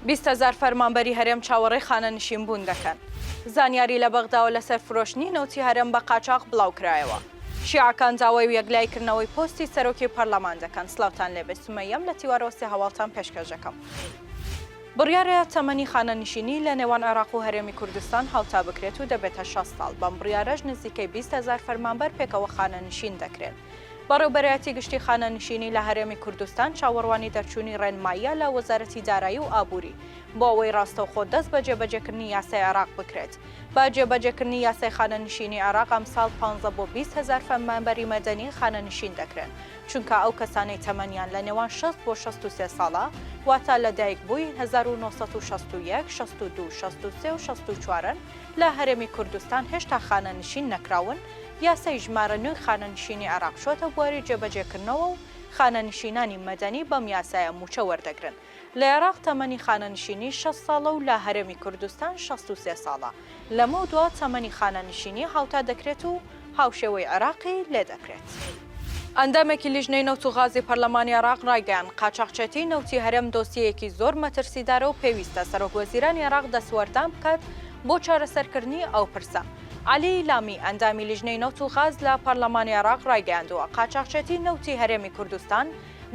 بیست هەزار فەرمانبەری هەرێم چاوەڕێی خانەنشینبوون دەکەن. زانیاری لە بەغداوە لەسەر فرۆشتنی نەوتی هەرێم بە قاچاخ بڵاوکرایەوە. شیعەکان داوای و یەکلایی کردنەوەی پۆستی سەرۆکی پەرلەمان دەکەن. سڵاوتان لێبێت سمەیەم لە تیوارەوە سێ هەواڵتان پێشکەش دەکەم. بڕیارە تەمەنی خانەنشینی لە نێوان عێراق و هەرێمی کوردستان هاوتا بکرێت و دەبێتە شەست ساڵ، بەم بڕیارەش نزیکەی بیست هەزار فەرمانبەر پێکەوە خانەنشین دەکرێن. بەڕێوبەرایەتی گشتی خانەنشینی لە هەرێمی کوردستان چاوەڕوانی دەرچوونی ڕێنماییە لە وەزارەتی دارایی و ئابووری بۆ ئەوەی ڕاستەوخۆ دەست بە جێبەجێکردنی یاسای عێراق بکرێت بە جێبەجێکردنی یاسای خانەنشینی عێراق ئەمساڵ پانزە بۆ بیست هەزار فەرمانبەری مەدەنی خانەنشین دەکرێن چونکا ئەو کەسانەی تەمەنیان لە نێوان شەست بۆ شەست و سێ ساڵە، واتە لە دایک بووی هەزار و نۆ سەد و شەست و یەک، شەست و دوو، شەست و سێ و شەست و چوارن، لە هەرێمی کوردستان هێشتا خانەنشین نەکراون، یاسای ژمارە نۆی خانەنشینی عێراق چووەتە بواری جێبەجێکردنەوە و خانەنشینانی مەدەنی بەم یاسایە مووچە وەردەگرن. لە عێراق تەمەنی خانەنشینی شەست ساڵە و لە هەرێمی کوردستان شەست و سێ ساڵە، لەمەودوا تەمەنی خانەنشینی هاوتا دەکرێت و هاوشێوەی عێراقی لێ دەکرێت. ئەندامێکی لیژنەی نەوت و غازی پەرلەمانی عێراق ڕایگەیاند، قاچاخچێتیی نەوتی هەرێم دۆسیەیەکی زۆر مەترسیدارە و پێویستە سەرۆکوەزیرانی عێراق دەستوەردان بکات بۆ چارەسەرکردنی ئەو پرسە. عەلی ئیلامی، ئەندامی لیژنەی نەوت و غاز لە پەرلەمانی عێراق ڕایگەیاندووە، قاچاخچێتیی نەوتی هەرێمی کوردستان،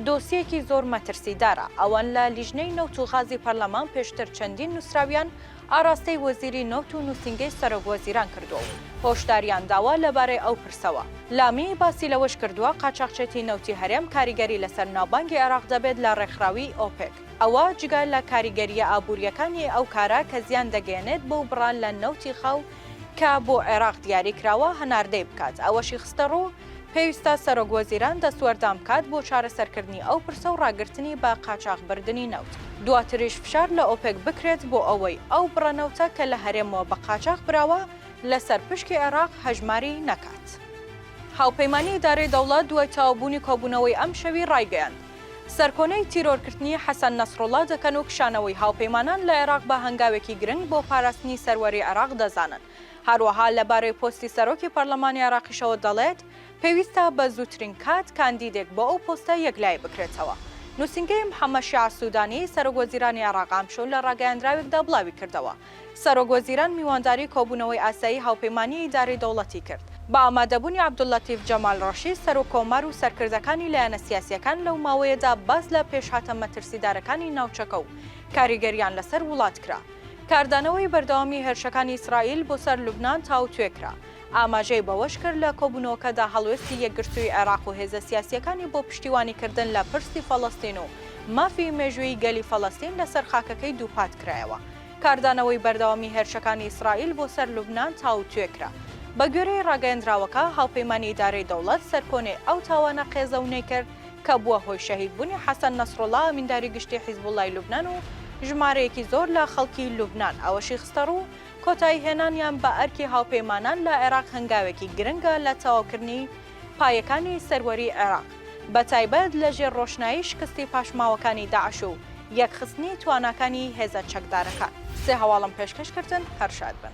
دۆسیەیەکی زۆر مەترسیدارە، ئەوان لە لیژنەی نەوت و غازی پەرلەمان پێشتر چەندین نووسراویان ئاراستەی وەزیری نەوت و نووسینگەی سەرۆک وەزیران کردووە و هۆشداریان داوە لەبارەی ئەو پرسەوە. لامی باسی لەوەش کردووە، قاچاخچێتی نەوتی هەرێم کاریگەری لەسەر ناوبانگی عێراق دەبێت لە ڕێکخراوی ئۆپێک، ئەوە جگە لە کاریگەرییە ئابوورییەکانی ئەو کارە کە زیان دەگەیەنێت بەو بڕە لە نەوتی خاو کە بۆ عێراق دیاری کراوە هەناردەی بکات، ئەوەشی خستەڕوو، پێویستە سەرۆکوەزیران دەستوەردان بکات بۆ چارەسەرکردنی ئەو پرسە و ڕاگرتنی بە قاچاخبردنی نەوت، دواتریش فشار لە ئۆپێک بکرێت بۆ ئەوەی ئەو بڕە نەوتە کە لە هەرێمەوە بە قاچاخ براوە لەسەر پشکی عێراق هەژماری نەکات. هاوپەیمانی ئیدارەی دەوڵەت دوای تەواوبوونی کۆبوونەوەی ئەمشەوی ڕایگەیاند، سەرکۆنەی تیرۆرکردنی حەسەن نەسروڵڵا دەکەن و کشانەوەی هاوپەیمانان لە عێراق بە هەنگاوێکی گرنگ بۆ پاراستنی سەروەری عێراق دەزانن. هەروەها لەبارەی پۆستی سەرۆکی پەرلەمانی عێراقیشەوە دەڵێت، پێویستە بە زووترین کات کاندیدێک بۆ ئەو پۆستە یەکلایی بکرێتەوە. نووسینگەی محەممەد شیاع سوودانی، سەرۆکوەزیرانی عێراق ئەمشەو لە راگەیاندراوێکدا بڵاویکردەوە، سەرۆک وەزیران میوانداری کۆبوونەوەی ئاسایی هاوپەیمانیی ئیدارەی دەوڵەتی کرد، بە ئامادەبوونی عەبدوللەتیف جەمال ڕەشید، سەرۆک کۆمار و سەرکردەکانی لایەنە سیاسییەکان لەو ماوەیەدا باس لە پێشهاتە مەترسیدارەکانی ناوچەکە و کاریگەرییان لەسەر وڵات کرا. کاردانەوەی بەردەوامی هێرشەکانی ئیسرائیل بۆ سەر لوبنان تاوتوێ کرا، ئاماژەی بەوەشکرد، لە کۆبوونەوەکەدا هەڵوێستی یەکگرتووی عێراق و هێزە سیاسییەکانی بۆ پشتیوانیکردن لە پرسی فەڵەستین و مافی مێژوویی گەلی فەڵەستین لەسەر خاکەکەی دووپاتکرایەوە. کاردانەوەی بەردەوامی هێرشەکانی ئیسرائیل بۆ سەر لوبنان تاوتوێکرا. بەگوێرەی راگەیەندراوەکە، هاوپەیمانی ئیدارەی دەوڵەت سەرکۆنەی ئەو تاوانە قێزەونەی کرد کە بووە هۆی شەهیدبوونی حەسەن نەسروڵڵا ئەمینداری گشتی حیزبوڵڵای لوبنان و ژمارەیەکی زۆر لە خەڵکی لوبنان، ئەوەشی خستەڕوو، کۆتاییهێنانیان بە ئەرکی هاوپەیمانان لە عێراق هەنگاوێکی گرنگە لە تەواوکردنی پایەکانی سەروەریی عێراق، بەتایبەت لەژێر ڕۆشنایی شکستی پاشماوەکانی داعش و یەکخستنی تواناکانی هێزە چەکدارەکان. سێ هەواڵم پێشکەش کردن هەر شاد بن.